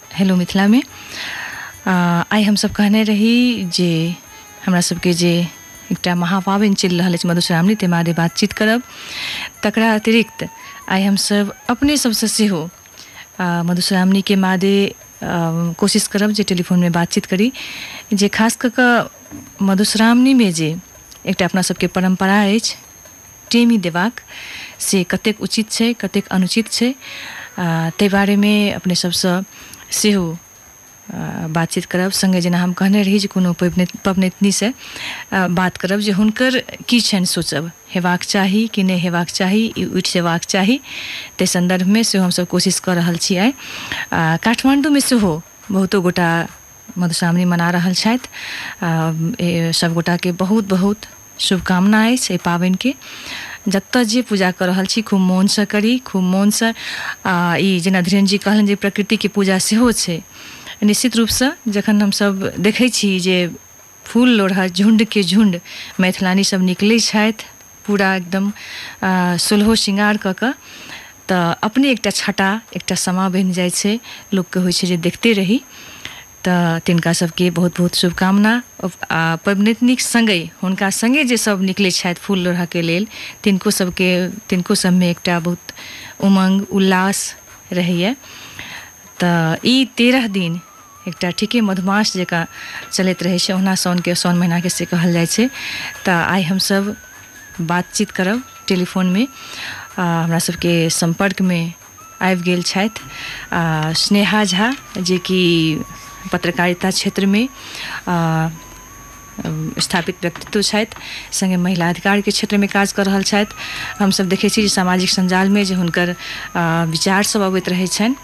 Hello मिथिलामे आ, आइ हमसभ कहने रही जे हमरा सभके जे एकटा महापाबनि चलि रहल अछि मधुश्रावणी ताहि बारे बातचीत करब तकरा अतिरिक्त आइ हमसभ अपने सभसँ सेहो आ, मधुश्रावणीके मादे आ, कोशिश करब जे टेलीफोनमे बातचीत करी जे खास कऽ कऽ मधुश्रावणीमे जे एकटा अपना सभके परम्परा अछि टेमी देबाक से कतेक उचित छै कतेक अनुचित छै ताहि बारेमे अपने सभसँ सेहो बातचीत करब सङ्गे जेना हम कहने रही जे कोनो पबनैतनीसँ बात करब जे हुनकर की छनि सोचब हेबाक चाही कि नहि हेबाक चाही ई उठि जयबाक चाही ताहि सन्दर्भमे सेहो हमसभ कोशिश कऽ रहल छी आइ काठमाण्डूमे सेहो बहुतो गोटा मधुश्रावणी मना रहल छथि सभगोटाके बहुत बहुत शुभकामना अछि एहि पाबनिके जतऽ जे पूजा कऽ रहल छी खूब मोनसँ करी खूब मोनसँ आ ई जेना धीरेन्द्रजी कहलनि जे प्रकृतिके पूजा सेहो छै निश्चित रूपसँ जखन हमसभ देखै छी जे फूल लोढ़ऽ झुण्डके झुण्ड मैथिलानी सभ निकलै छथि पूरा एकदम आ, सोलहो श्रृंगार कऽ कऽ तऽ अपने एकटा छटा एकटा समा बनि जाइ छै लोकके होइ छै जे देखते रही तऽ तिनका सबके बहुत बहुत शुभकामना आ पबनैतनिक संगे हुनका संगे जे सब निकलै छथि फूल लोढ़ऽके लेल तिनको सबके तिनको सबमे एकटा बहुत उमंग उल्लास रहैए तऽ ई तेरह दिन एकटा ठीके मधुमास जकाँ चलैत रहै छै ओना साउनके साउन महीनाके से कहल जाइ छै तऽ आइ हमसब बातचीत करब टेलीफोनमे आ हमरा सबके सम्पर्कमे आबि गेल छथि आ, स्नेहा झा जेकि पत्रकारिता क्षेत्रमे आ, स्थापित व्यक्तित्व छथि संगे महिला अधिकार के क्षेत्र में काज कर रहल छथि हमसभ देखै छी जे सामाजिक संजाल में जे हुनकर आ, विचार सब अबैत रहै छनि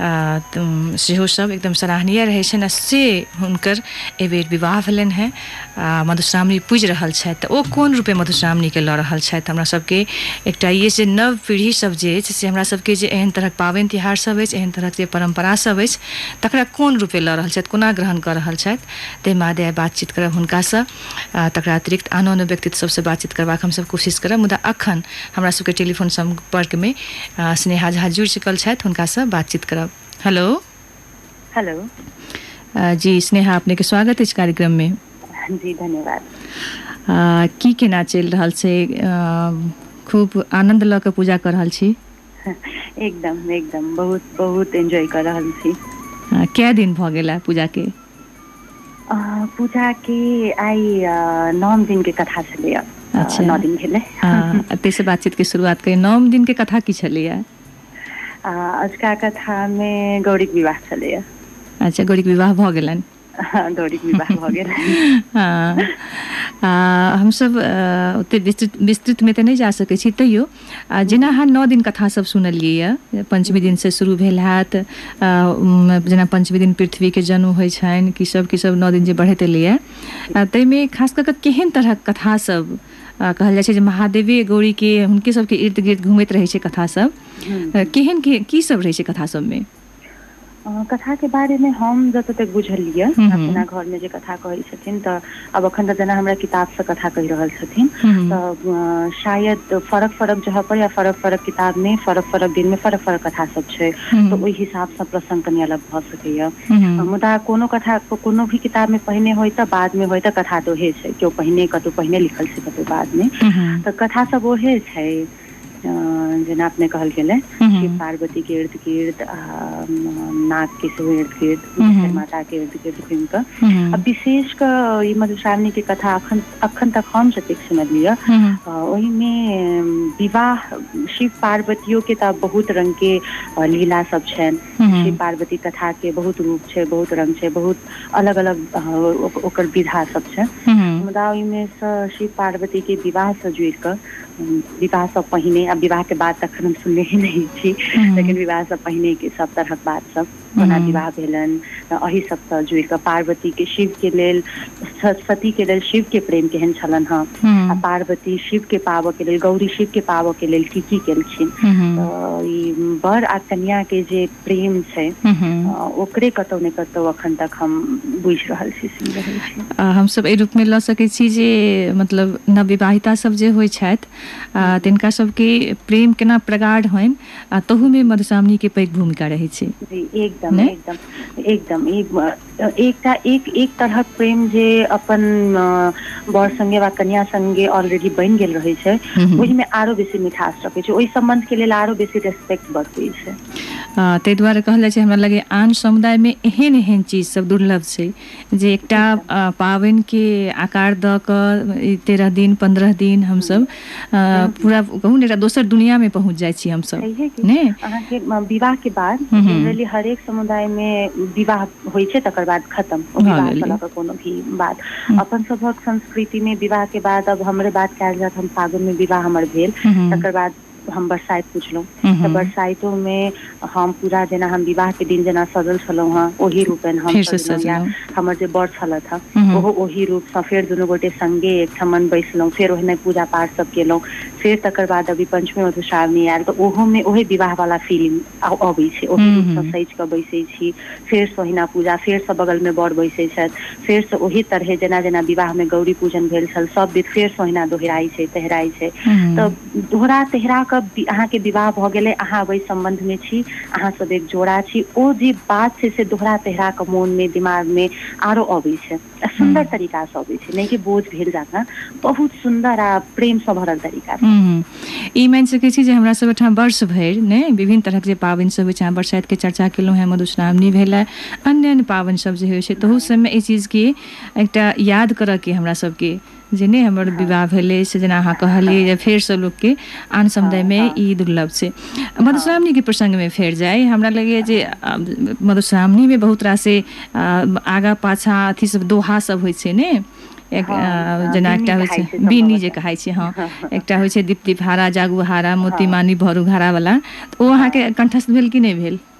आ, त- सेहो सब एकदम सराहनीय रहै छनि आ से हुनकर एहि बेर विवाह भेलनि हैं आ मधुश्रावणी पूजि रहल छथि तऽ ओ कोन रूपे मधुश्रावणीके लऽ रहल छथि हमरा सभके एकटा ई अछि जे नव पीढ़ी सभ जे अछि से हमरा सभके जे एहन तरहक पाबनि तिहार सभ अछि एहन तरहक जे परम्परा सभ अछि तकरा कोन रूपे लऽ रहल छथि कोना ग्रहण कऽ रहल छथि ताहि मादे आइ बातचीत करब हुनकासँ आ तकरा अतिरिक्त आनो आनो व्यक्तित्व सभसँ बातचीत करबाक हमसभ कोशिश करब मुदा अखन हमरा सभके टेलीफोन सम्पर्कमे आ, स्नेहा झा जुड़ि चुकल छथि हुनकासँ बातचीत करब हेलो हेलो अ, जी स्नेहा अपने के स्वागत अछि कार्यक्रम में जी धन्यवाद अ, की केना चलि रहल छै अ, खूब आनंद लऽ कऽ पूजा कऽ रहल छी एकदम एकदम बहुत बहुत एंजॉय कर रहल छी अ, कए दिन भऽ गेल है पूजा के अ, पूजा के आइ अ, नौ दिन के कथा छलैया अच्छा नौ दिन भेलै अ, एतहि से बातचीत के शुरुआत करी नौम दिन के कथा की छलैया आ अझुका कथा मे गौड़ीक के विवाह छलैया। अच्छा गौरी के विवाह भऽ गेलनि। हँ गौड़ीक के विवाह भऽ गेल। हँ आ हमसभ ओतेक विस्तृत विस्तृत मे तऽ नहि जा सकैत छी तैयो आ जेना अहाँ नओ दिन कथा सभ सुनलियै यए पञ्चमी दिन सँ शुरू भेल हएत आ जेना पञ्चमी दिन पृथ्वी के जन्म होइत छनि किसभ किसभ नओ दिन जे बढ़ैत एलैए आ ताहिमे खास कऽ कऽ केहन तरहक कथा सभ आ कहल जाइ छै जे महादेवे गौरी के हुनके सबके इर्द गिर्द घूमैत रहै छै कथा सब अ, केहन के की सब रहै छै कथा सबमे अ, कथा के बारे में हम जतऽ तक बुझलियै हम्म। अपना घर में जे कथा कहै छथिन तऽ अब अखन तऽ जेना हमरा किताब से कथा कहि रहल छथिन हम्म। तऽ अ, शायद फरक फरक जगह पर या फरक फरक किताब में फरक फरक दिन में फरक फरक कथा सब छै हम्म। तऽ ओहि हिसाब से प्रसंग कनि अलग भऽ सकै सकैया हूँ मुदा कोनो कथा कोनो भी किताब मे पहिने होय तऽ बाद मे होय तऽ कथा तऽ ओहे छै केओ पहिने कतौ पहिने लिखल छै कतौ बाद मे हूँ तऽ कथा सब ओहे छै अ जेना अपने कहल गेले हूँ शिव हूँ पार्वती के इर्द गिर्द आ नाग के सेहो इर्द गिर्द हूँ जखर हूँ माता के इर्द गिर्द घुम कऽ हूँ आ विशेष के ई मधुश्रावणी के कथा अखन अखन तक हम जतेक सुनलिय य हूँ हूँ आ ओहिमे विवाह शिव पार्वतियो के तऽ बहुत रंग के लीला सब छनि शिव हूँ पार्वती कथा के बहुत रूप छै बहुत रंग छै बहुत अलग अलग ओकर विधा सब छै हूँ मुदा ओहिमे सँ शिव पार्वती के विवाह से जुड़ कऽ विवाह से पहिने आ विवाह के बाद तखन हम सुनने ही नहि छी लेकिन हूँ विवाह से पहिने के सब तरहक बात सब कोना हूँ विवाह भेलनि अही सबसँ जुड़ कऽ पार्वती के शिव के लेल सती के लेल शिव के प्रेम केहन छलनि हँ आ पार्वती शिव के पाबऽ के लेल गौरी शिव के पाबऽ के लेल की की केलखिन तऽ ई बर आ कनिया के जे प्रेम छै ओकरे कतौ ने कतौ अखन तक हम बुझि रहल छी सुनि रहल छी हमसभ एहि रूपमे लऽ सकैत छी जे मतलब नवविवाहिता सभ जे होइत छथि तिनका सभके प्रेम केना प्रगाढ़ होनि आ तहू मे मधुश्रावणी के पैघ भूमिका रहै छै। जी एकदम नहि एकदम एकदम ई एकटा एक एक तरहक प्रेम जे अपन अ बर संगे वा कनिया संगे ऑलरेडी बनि गेल रहै छै हूँ हूँ ओहिमे आरो बेसी मिठास रखै छै ओहि सम्बन्ध के लेल आरो बेसी रेस्पेक्ट बढ़बै छै। आ ताहि दुआरे कहल जाइ छै हमरा लगैये आन समुदाय मे एहेन एहेन चीज सब दुर्लभ छै। जे एकटा ठीक बात अ पाबैन के आकार दऽ कऽ ई तेरह दिन पन्द्रह दिन हम हँ सब अ हँ हँ पूरा कहु ने एकटा दोसर दुनिया मे पहुँच जाइ छी हमसब छैहे कि अहाँ के विवाह के बाद हूँ हूँ जेनरली हरेक समुदाय मे विवाह होइ छै तकर बाद खतम ओ भऽ विवाह के गेलै लऽ कऽ कोनो भी बात हूँ अपन सभक संस्कृति मे विवाह के बाद अब हमरे बात कयल जाय त हम फागुन मे विवाह हमर भेल हूँ तकर बाद हम बरसाइत पुछलहुँ हूँ तऽ हूँ बरसाइतो मे हम पूरा जेना हम विवाह के दिन जेना सजल छलहुँ हेँ ओहि रूप हम फेरसँ सजलहुँ या सजलहुँ हमर जे बड़ छलथि हे हूँ हूँ ओहो ओहि रूप सँ फेर दुनू गोटे संगे एकठमन बैसलहुँ फेर ओहिना पूजा पाठ सब केलहुँ फेर तकर बाद अभी पंचमी मधुश्रावणी आयल तऽ ओहो मे ओहे विवाह वाला फीलिंग आ अबै छै ओहि हूँ रूप सँ हूँ सजि कऽ बैसैत छी फेर स ओहिना पूजा फेर सँ बगल मे बर बैसैत छथि फेर सँ ओहि तरहे जेना जेना विवाह मे गौरी पूजन भेल छल सभ विध फेर सँ ओहिना दोहराइत छै तहिराइत छै हूँ हूँ तऽ दोहरा तेहरा क अहाँ के विवाह भ गेल अछि, अहाँ वैध संबंध में छी, अहाँ सब एक जोड़ा छी, ओ जे बात छै से दोहरा तेहरा क मोन में दिमाग में आरो अबै छै आ सुंदर तरीका स अबै छै, नै कि बोझ भेल जकाँ बहुत सुंदर आ प्रेम स भरल तरीका स। ई मानि सकै छी जे हमरा सब ओहिठाम वर्ष भरि ने विभिन्न तरहक जे पाबनि सब होइ छै, अहाँ बरसाइत के चर्चा केलहुँ हैं, मधुश्रावणी भेले, अन्य-अन्य पाबनि सब जे होइ छै, तहू सब में एहि चीज के एकटा याद करऽ के हमरा सब के जे नहि हमर हँ विवाह भेल अछि जेना अहाँ कहलियै जे फेरसँ लोकके आन हँ समुदायमे हँ ई दुर्लभ छै हँ मधुश्रावणी के प्रसंग मे फेर जाय हमरा लगैया जे हँ मधुश्रावणी मे बहुत रास आगा पाछा अथी सब दोहा सब होइ छै ने एक हँ हँ जेना बिन्नी एकटा होइ कहाइ छै बिनी जे सम्भवतः कहे छै हँ एकटा होइ छै दीप्ति हँ हँ हँ भरा जागू हरा मोती हँ मानी भरु घरा वाला ओ अहाँ हँ के कंठस्थ भेल की नहि भेल